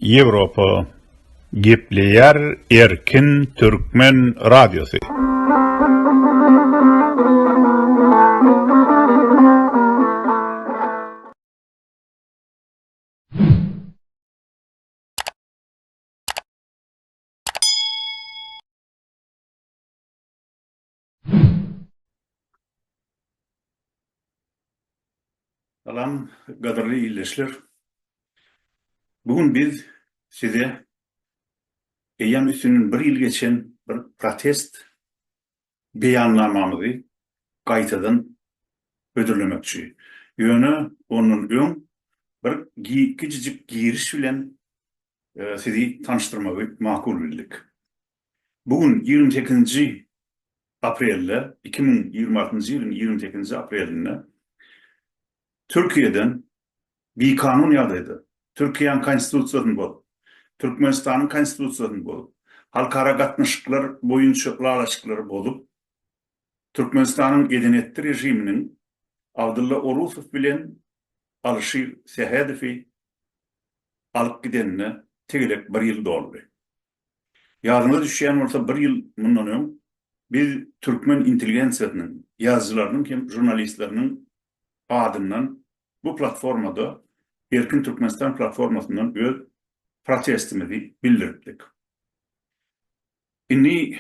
Ýewropa gepleýär erkin türkmen radiosy. Salam, gadyrly ildeşler! Bu gün biz size eýýäm üstünden bir ýyl geçen bir protest beýannamamyzy gaýtadan hödürlemekçi. Ýöne ondan öň bir kiçijik giriş bilen sizi tanyşdyrmagy makul bildik. Bu gün ýigrimi sekizinji aprelde, iki müň ýigrimi altynjy ýylyň ýigrimi sekizinji aprelinde Türkiýeden bikanun ýagdaýda, Türkiýäň Konstitusiýasyny bozup, Türkmenistanyň Konstitusiýasyny bozup, halkara gatnaşyklar boýunça ylalaşyklary bozup, Türkmenistanyň eden-etdi režiminiň Abdylla Orusow bilen Alyşir Sähedowy alyp gidenine tegelek bir ýyl doldy. Ýadyňyza düşýän bolsa, bir ýyl mundan öň biz türkmen intelligensiýasynyň, ýazyjylarynyň hem žurnalistleriniň adyndan bu platformada, Erkin Türkmenistan platformasyndan öz protestimizi bildiripdik. Indi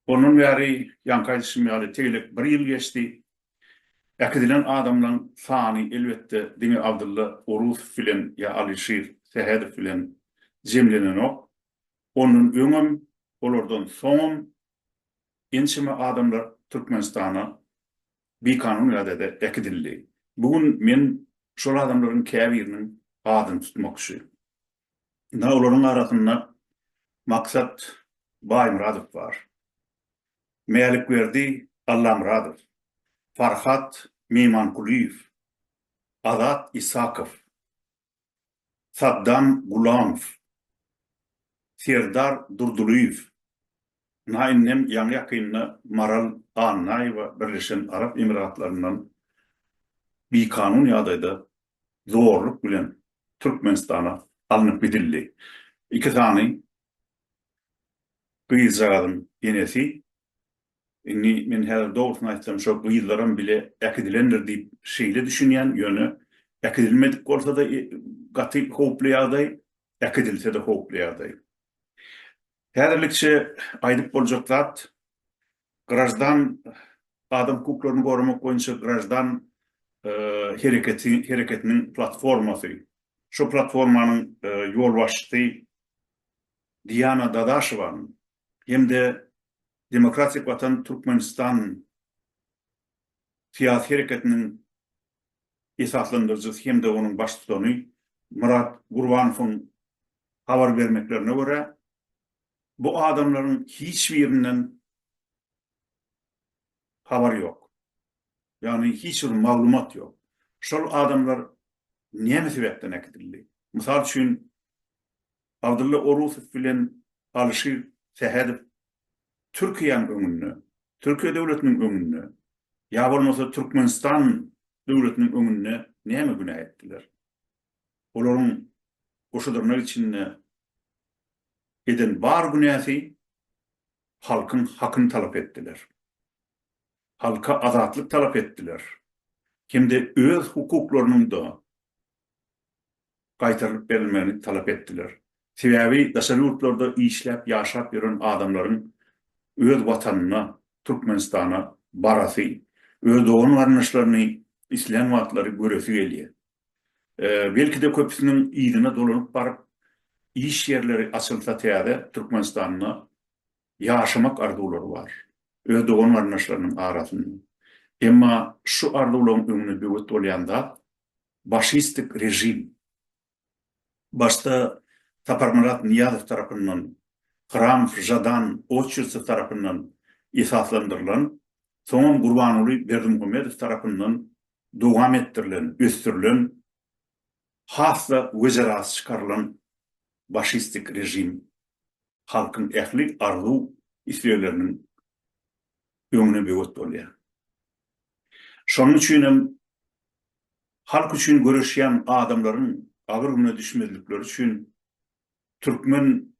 ondan bäri, ýaňky aýdyşym ýaly, tegelek bir ýyl geçdi. Äkidilen adamlaryň sany, elbetde, diňe Abdylla Orusow bilen ýa Alyşir Sähedow bilen jemlenenok. Ondan öňem, olardan soňam ençeme adamlar Türkmenistana bikanun ýagdaýda äkidildi. Bu gün men şol adamlaryň käbiriniň adyny tutmakçy. Ynha, olaryň arasynda Maksat Baýmyradow bar. Mälikberdi Allamyradow, Farhat Meýmankulyýew, Azat Isakow, Saddam Gulamow, Serdar Durdylyýew. Ynha, indem ýaňy-ýakynda Maral Annaýewa Birleşen Arap Emiratlaryndan bikanun ýagdaýda zorluk bilen Türkmenistana alnyp gidildi. Iki sany gyzjagazyň enesi, indi men häzir dogrusyny aýtsam şo gyzlaram bile äkidilendir diýip şeýle düşünýän, ýöne äkidilmedik bolsa-da gaty howply ýagdaý, äkidilse-de howply ýagdaý. Häzirlikçe aýdyp boljak zat Graždan adam hukuklaryny goramak boýunça graždan hereketi hereketiniň platformasy. Şu platformanyň ýolbaşçysy Diana Dadaşowanyň hem-de Demokratik watan Türkmenistan syýasy hereketiniň esaslandyryjysy hem-de onuň baştutany Myrat Gurbanowyň habar bermeklerine görä, Bu adamlaryň hiç birinden habar ýok. Ýagny hiç bir maglumat ýok. Şol adamlar näme sebäpden äkidildi? Mysal üçin Abdylla Orusow bilen Alyşir Sähedow Türkiýäň öňünde, Türkiýe döwletiniň öňünde ýa bolmasa Türkmenistan döwletiniň öňünde näme günä etdiler? Olaryň goşadyrnak içinde eden bar günäsi halkyň hakyny talap etdiler. Halka azatlyk talap etdiler hem-de öz hukuklarynyň-da gaýtarylyp berilmegini talap etdiler. Sebäbi daşary ýurtlarda işläp ýaşap ýören adamlaryň öz watanyna, Türkmenistana barasy, öz dogan-garyndaşlaryny islän wagtlary göresi gelýär. Belki-de köpüsiniň yzyna dolanyp baryp, iş ýerleri açylsa täze Türkmenistanda ýaşamak arzuwlary bar, öz dogan-garyndaşlarynyň arasynda. Emma şu arzuwlaryň öňüne böwet bolýan zat, başistik režim. Başda Saparmyrat Nyýazow tarapyndan, Hramov, Žadan, Oçertsew tarapyndan esaslandyrylan, soňam Gurbanguly Berdimuhamedow tarapyndan dowam etdirilen, ösdürilen has-da wejerasy çykarylan başistik režim halkyň ähli arzuw islegleriniň öňüne böwet bolýar. Şonuň üçin hem halk üçin göreşýän adamlaryň agyr güne düşmezlikleri üçin türkmen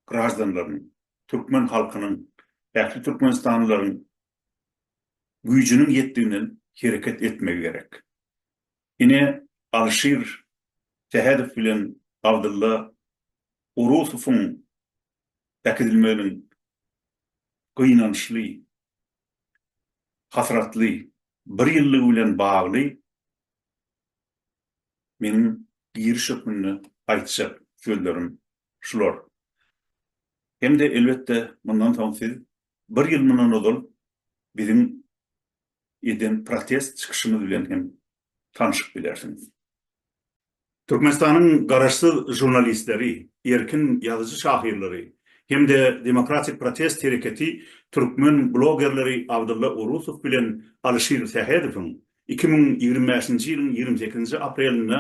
graždanlarynyň, türkmen halkynyň, ähli türkmenistanlylaryň güýjüniň ýetdiginden hereket etmegi gerek. Ine, Alşir Sähedow bilen Abdylla Orusowyň äkidilmeginiň gynançly, hasratly bir ýyllygy bilen bagly meniň giriş hökmünde aýtjak sözlerim şular. Hem-de elbetde, mundan soň siz bir ýyl mundan ozal biziň eden protest çykyşymyz bilen hem tanşyp bilersiňiz. Türkmenistanyň garaşsyz žurnalistleri, erkin ýazyjy-şahyrlary hem-de Demokratik protest hereketi türkmen blogerleri Abdylla Orusow bilen Alyşir Sähedowyň iki müň ýigrimi bäşinji ýylyň ýigrimi sekizinji aprelinde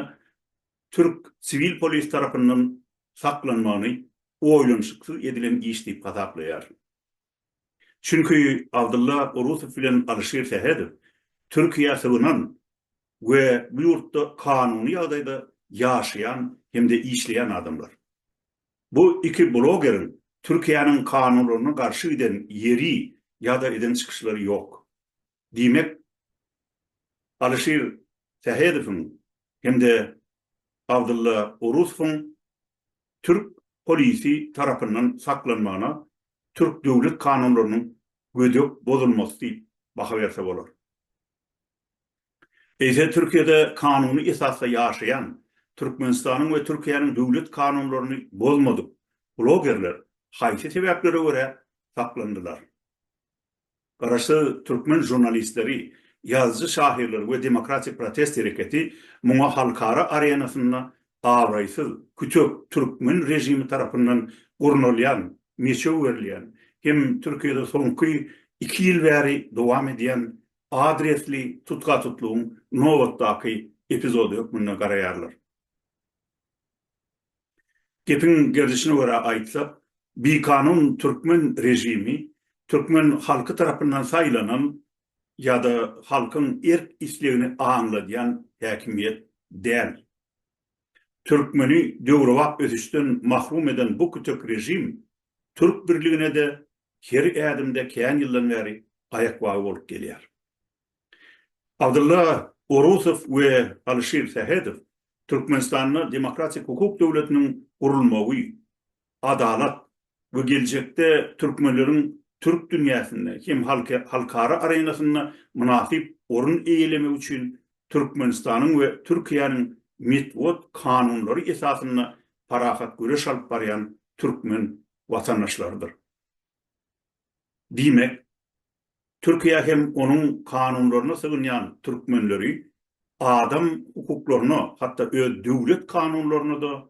türk siwil polis tarapyndan saklanmagyny oýlanyşyksyz edilen iş diýip hasaplaýar. Çünki Abdylla Orusow bilen Alyşir Sähedow Türkiýä sygynan we bu ýurtda kanuny ýagdaýda ýaşaýan hem-de işleýän adamlar. Bu iki blogeriň Türkiýäniň kanunlaryna garşy giden ýeri ýa-da eden çykyşlary ýok. Diýmek, Alyşir Sähedowyň hem-de Abdylla Orusowyň türk polisi tarapyndan saklanmagyna türk döwlet kanunlarynyň gödek bozulmasy diýip baha berse bolar. Eýse Türkiýede kanuny esasda ýaşaýan, Türkmenistanyň we Türkiýäniň döwlet kanunlaryny bozmadyk blogerler haýsy sebäplere görä saklandylar? Garaşsyz türkmen žurnalistleri, ýazyjy-şahyrlar we demokratik protest hereketi muňa halkara arenasynda abraýsyz, kütek türkmen režimi tarapyndan gurnalýan, meçew berilýän hem Türkiýede soňky iki ýyl bäri dowam edýän adresli tutgatutlygyň nobatdaky epizody hökmünde garaýarlar. Gepiň gerdişine görä aýtsak, bikanun türkmen režimi türkmen halky tarapyndan saýlanan ýa-da halkyň erk-islegini aňladýan häkimiýet däl. Türkmeni döwrebap ösüşden mahrum eden bu kütek režim türk birligine-de her ädimde kän ýyldan bäri aýakbagy bolup gelýär. Abdylla Orusow we Alyşir Sähedow Türkmenistanda demokratik hukuk döwletiniň gurulmagy, adalat we geljekde türkmenleriň türk dünýäsinde hem halkara arenasynda mynasyp orun eýelemegi üçin Türkmenistanyň we Türkiýäniň metbugat kanunlary esasynda parahat göreş alyp barýan türkmen watandaşlarydyr. Diýmek, Türkiýä hem onuň kanunlaryna sygynýan türkmenleri adam hukuklaryna, hatda öz döwlet kanunlaryna-da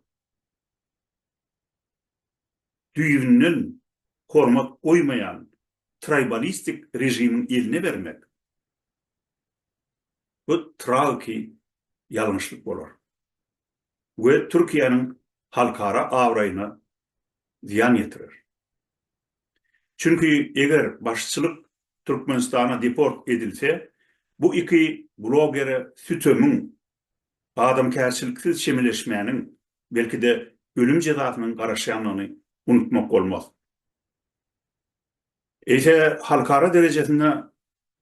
düýbünden hormat goýmaýan traýbalistik režimiň eline bermek, bu tragiki ýalňyşlyk bolar. we Türkiýäniň halkara abraýyna zyýan ýetirer. Çünki eger başçylyk Türkmenistana deport edilse, bu iki blogere sütemiň, adamkärçiliksiz çemeleşmäniň, belki-de ölüm jezasynyň garaşýandygyny unutmak bolmaz. Eýse halkara derejesinde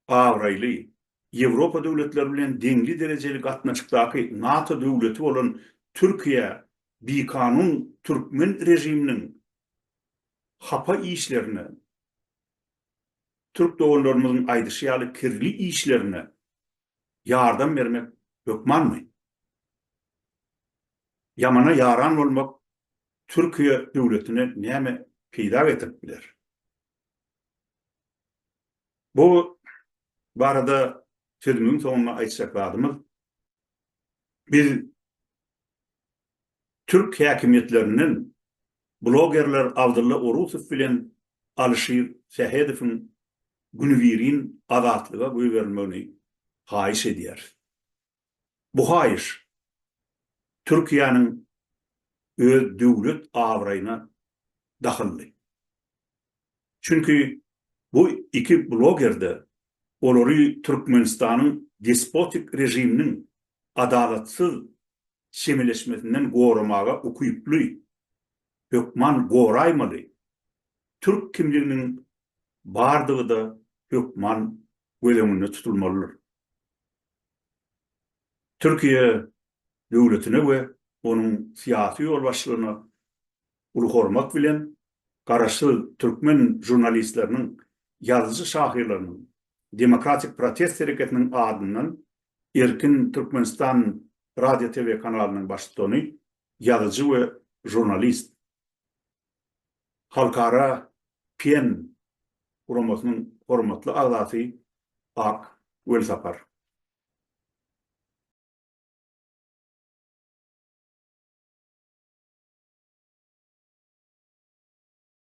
abraýly, Ýewropa döwletleri bilen deňli derejeli gatnaşykdaky NATO döwleti bolan Türkiýe bikanun türkmen režiminiň hapa işlerine, türk doganlarymyzyň aýdyşy ýaly kirli işlerine ýardam bermek hökmanmy? Ýamana ýaran bolmak Türkiýe döwletine näme peýda getirip biler? Bu barada sözümiň soňunda aýtjak zadymyz, biz Türk häkimiýetlerinden blogerler Abdylla Orusow bilen Alyşir Sähedowyň günübirin azatlyga goýberilmegini haýyş edýäris. Bu haýyş Türkiýäniň öz döwlet abraýyna dahylly. Çünki bu iki bloger-de olary Türkmenistanyň despotik režiminiň adalatsyz çemeleşmesinden goramaga ukyply hökman goraýmaly türk kimliginiň bardygy-da hökman göz öňünde tutulmalydyr. Türkiýe döwletine we onuň syýasy ýolbaşçylygyna uly hormat bilen, garaşsyz türkmen žurnalistleriniň, ýazyjy-şahyrlarynyň, demokratik protest hereketiniň adyndan Erkin Türkmenistan radio TV kanalynyň baştutany, ýazyjy we žurnalist, Halkara PEN guramasynyň hormatly agzasy Ak Welsapar.